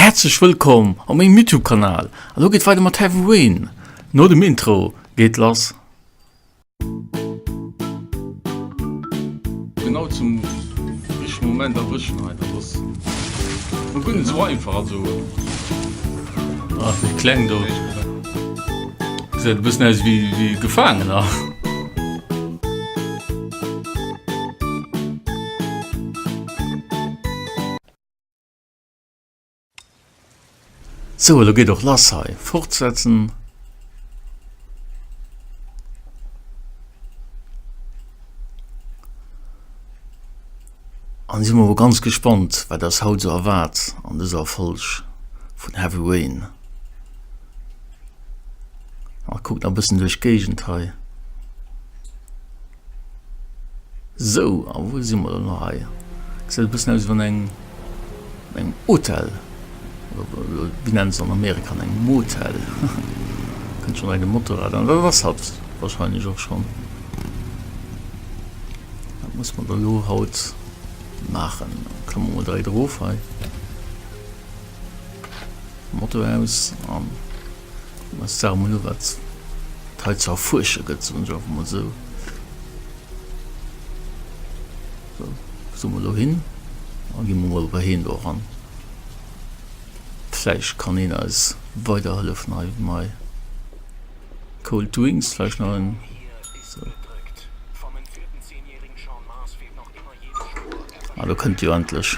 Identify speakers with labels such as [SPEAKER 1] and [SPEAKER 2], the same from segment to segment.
[SPEAKER 1] Häerzlech wëllkomm op mengem Youtube Kanal, elo geet weider mat Heavy Rain, no dem Intro geet lass. Genau zum richtegen Moment erwëschen hei, dat ass no guer net sou einfach, also déi kleng do gesäit e bëssen aus wéi Gefaangener. So, elo geet och lass hei. Fortsetzen. An si mo ganz gespannt, wat ders haut so erwaart an dëser Folg vun Heavy Rain. A kuckt a bëssen duerch d'Géigend hei. Sou, a wou si mer dann hei? Gesäit e bëssen aus ewéi an engem Hotel, oder wéi nennen se an Amerika an engem Motel? Kënnt schonn hei de Motorrad an, dat ass hatt wahrscheinlech och schonn. Wat muss mer da lo haut maachen? Klamme mer dräi erof hei, Moto aus an. Ech sage mol no, wat hei ze erfuersche gëtt, soen ech einfach mol esou. Sou, soe mer elo hin a gi mer mol bei heen do eran. Vläicht kann heen eis weiderhëllefen hei. Mei cold drinks vläicht nach en. Ah, do kënnt jo endlech.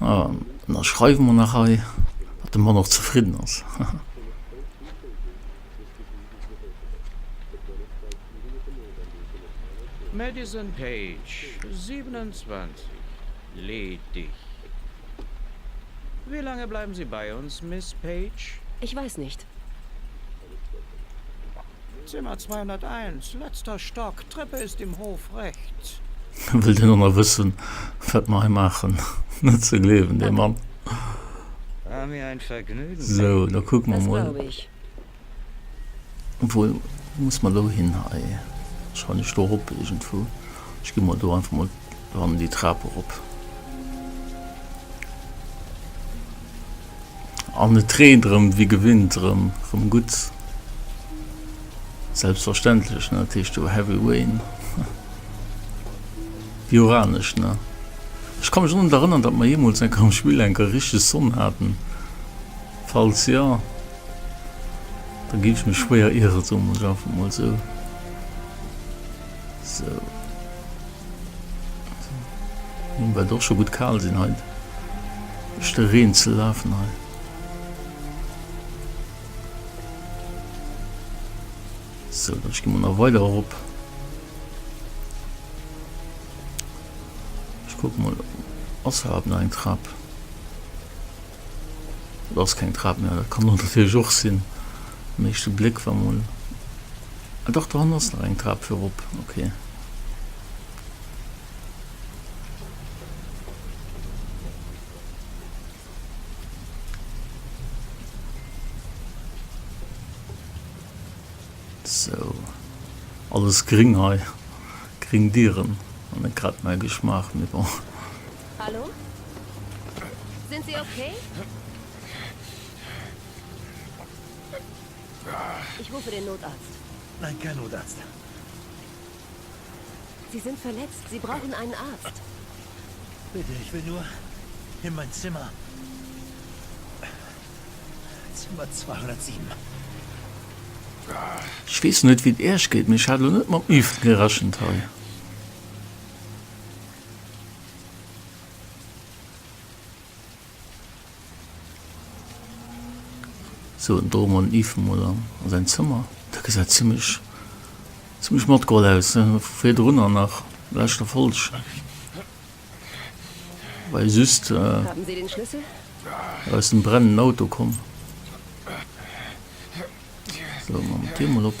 [SPEAKER 1] Ah, an da schreiwe mer nach hei, datt de Mann och zefridden ass. Madison Page, 27, ledig. Wéi laange bleiwen Sie bei ons, Miss Page? Ich weiß nicht. Zimmer 201, letzter Stock, Treppe ist im Hof rechts. Wëll deen aner wëssen, wat mer hei maachen? Net ze gleewen, dee Mann! War mir ein Vergnügen. So, da kucke mer mol. Wou muss mer elo hin hei? Wahrscheinlech do erop iergendwou. Ech gi mol do einfach mol dran, déi Trap erop. An et dreemt erëm wéi gewinnt erëm erëm gutt. Selbstverständlech ne, dat heescht jo Heavy Rain. Wéi uranesch ne. Ech ka mech och net erënnern, datt mer jeemools enker am Spill enker richteg Sonn haten. Falls jo, da géif ech mech schwéier ieren, soen mer et einfach emol esou. Sou. Well et och scho gutt kal sinn hei duerch de Reen ze lafen hei. So dann gi man nach weider erop. Ech kuck mal ass hab nach eng Trap. Dat ass keng Trap, mä dat kann et natierlech och sinn, um éischte Bléck, wa mol, ah dach, do hannen ass nach eng Trap fir erop, ok. Sou, alles gring hei, gring Dieren, an eng Trap, mäi Geschmaach, mee bon. Hallo? Sind Sie okay? Ich rufe den Notarzt. Nein, kein Notarzt. Sie sind verletzt. Sie brauchen einen Arzt. Bitte, ich will nur in mein Zimmer. Zimmer 207. Ich wees net wéi et Äerch geet, mee ech hat elo net mam Üft gerechent hei. Sou, do man Yves emol an säin Zëmmer. Dat gesäit zimlech, zimlech matgeholl aus, he? Vu virdrunner nach, leschter Folg war jo just aus dem brennenden Auto komm. Sou, man d'Dier emol op.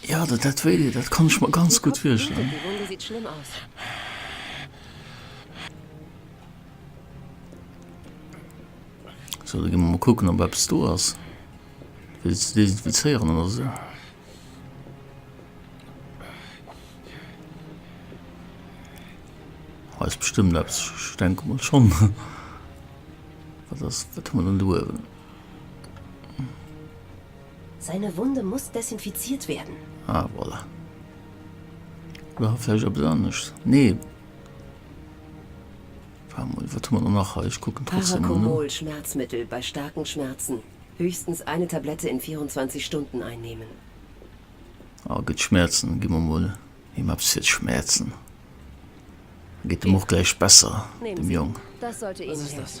[SPEAKER 1] Ja, dat dat wéi dee, dat kann ech mer ganz gutt virstellen. So, da gi mer mol kucken, ob eppes do ass. Wéi ze desinfizéieren oder sou. Ah, ass bestëmmt eppes, ich denke mol schonn. Wat ass, wat hu mer dann do uewen? Seine Wunde muss desinfiziert werden. Ah, voilà. Oder hat vläicht eppes anescht? Nee. Warte mol, wat hu mer dann nach hei? Ech kucken trotzdem mol no. Paracomol Schmerzmittel bei starken Schmerzen. Höchstens eine Tablette in 24 Stunden einnehmen. Ah, gëtt Schmerzen. Gi mer mol him eppes fir d'Schmerzen. Da geet dem och gläich besser, dem Jong. Nehmen Sie. Das sollte Ihnen helfen.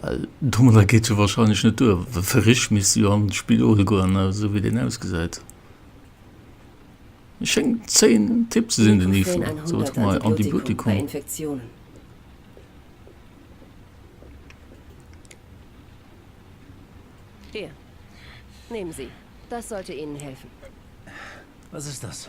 [SPEAKER 1] Well domadder geet jo wahrscheinlech net duer, well fir rich misst de jo an d'Spidol goen, esou wéi deen ausgesäit. Et schéngt zéin Tipp ze sinn, den Yves do. Sou, wat hu mer hei? Antibiotikum. Hir, nehmen Sie, das sollte Ihnen helfen. Was ist das?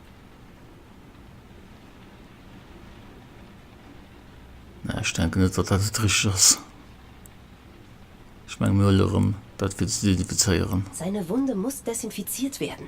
[SPEAKER 1] Ech denke net, datt dat et richteg ass. Ech menge mir huele erëm dat fir ze desinfizéieren. Seine Wunde muss desinfiziert werden.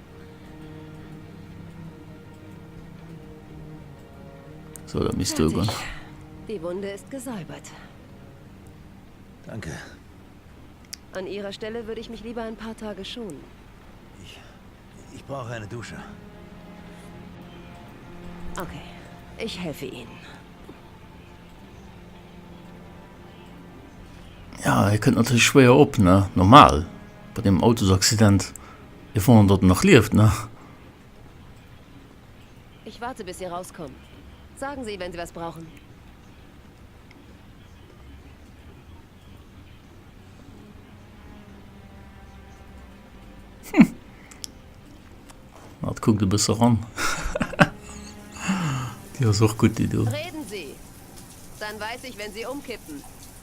[SPEAKER 1] So, da misst du gehen. Die Wunde ist gesäubert. Danke. An Ihrer Stelle würde ich mich lieber ein paar Tage schonen. Ich, ich brauche eine Dusche. Okay, ich helfe Ihnen. Ja, ihr könnt natürlich schwer op, ne? Normal. Bei dem Autosaccident. Hie fond datt en nach lieft, ne? Ech warte bis si erauskommen. Sagen Sie, wenn Sie was brauchen. Hm. Mat kuckt e bësse ran. Déi ass och gutt, déi do. Reden Sie! Dann weiß ich, wenn Sie umkippen.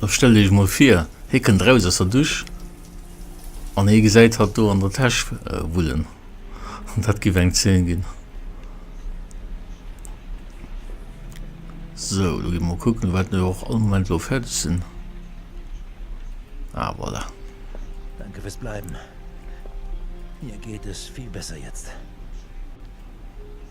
[SPEAKER 1] Lo stellt iech mol vir, hie kënnt eraus aus der Dusch an hie gesäit hatt do an der Täsch wullen. Dat giff eng Zeen ginn. So, lo gi mer kucken, wat mir och all Moment lo fäerdeg sinn. Ah, voilà. Danke fürs Bleiben. Mir geht es viel besser jetzt.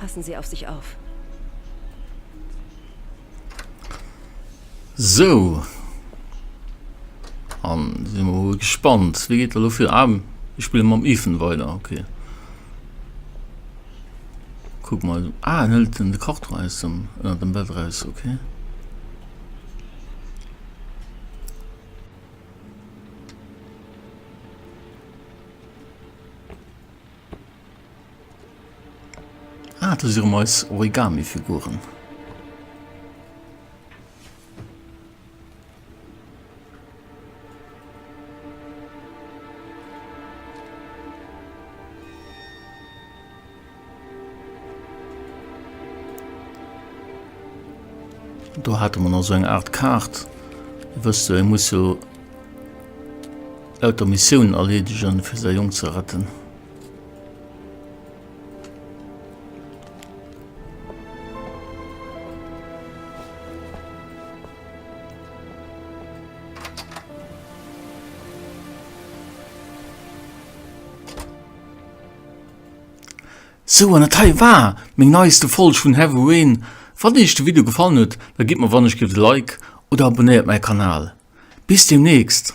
[SPEAKER 1] Passen Sie auf sich auf. Sou, an si mer wuel gespannt, wéi geet dat elo fir? Ah, ech spille mam Ethan weider, okay. Kuck mal, ah, en hëlt den de Karton aus dem, ënnert dem Bett eraus, okay. Ah, do si rëm eis Origami-Figuren. Do hatte man also eng Art Kaart. Wësst du, e muss jo lauter Missioun erleedegen, fir säi Jong ze retten. Sou an dat hei war meng neiste Folg vun Heavyween. Wann iech de Video gefallen huet, da gitt mer wannechgelift e Like oder abonnéiert mäi Kanal. Bis deemnächst!